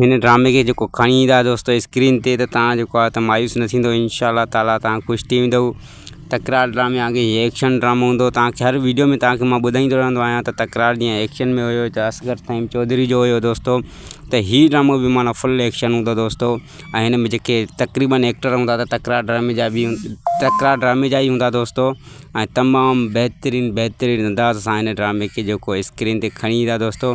هن ڊرامي کي جيڪو کڻي ايندا دوستو اسڪرين تي ته تان جيڪو آ ته مايوس نه ٿيندو ان شاء الله تعالٰي تان خوش ٿي ويندو تڪرار ڊرامي آگي هي ايڪشن ڊرامو هوندو تان کي هر ويڊيو ۾ تان کي مان ٻڌائيندو رهندو آهيان ته تڪرار جيئن ايڪشن ۾ هيو ته اصغر فهيم چوڌري جو هيو دوستو ته هي ڊرامو به معنيٰ فل ايڪشن هوندو دوستو ۽ هن ۾ جيڪي تقريبن ايڪٽر هوندا ته تڪرار ڊرامي جا به تڪرار ڊرامي جا ئي هوندا دوستو ۽ تمام بهترين بهترين انداز سان هن ڊرامي کي جيڪو اسڪرين تي کڻي ايندا دوستو